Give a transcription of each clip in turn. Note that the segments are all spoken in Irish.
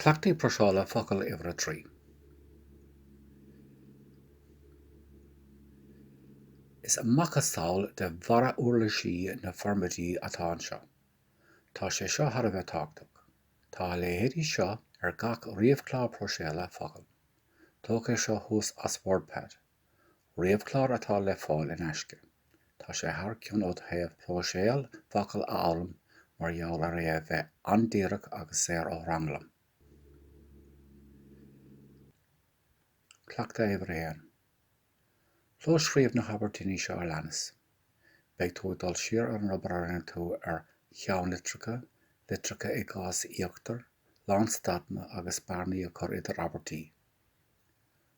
Cleachtaí Próiseála Focal Uimhir a Trí Is macasamhail de bharra uirlisí na formáide atá anseo. Tá sé seo thar a bheith tábhachtach. Tá a leithéidí seo ar gach ríomhchlár próiséala focal. Tógadh é seo thuas as WordPad. Ríomhchlár atá le fáil in aisce. Tá sé thar cionn ó thaobh próiseáil focal a fhoghlaim mar gheall ar é a bheith an-díreach agus saor ó thranglam. Cleachtadh Uimhir a hAon. Clóscríobh na habairtíní seo a leanas. Beidh tú ag dul siar ar an obair a rinne tú ar cheannlitreacha, litreacha i gcás íochtair, lánstadanna agus bearnaí a chur idir abairtí.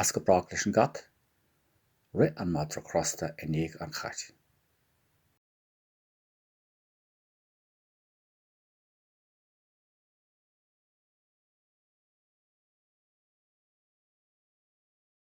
As go brách leis an gcat. Rith an madra crosta i ndiaidh an chait.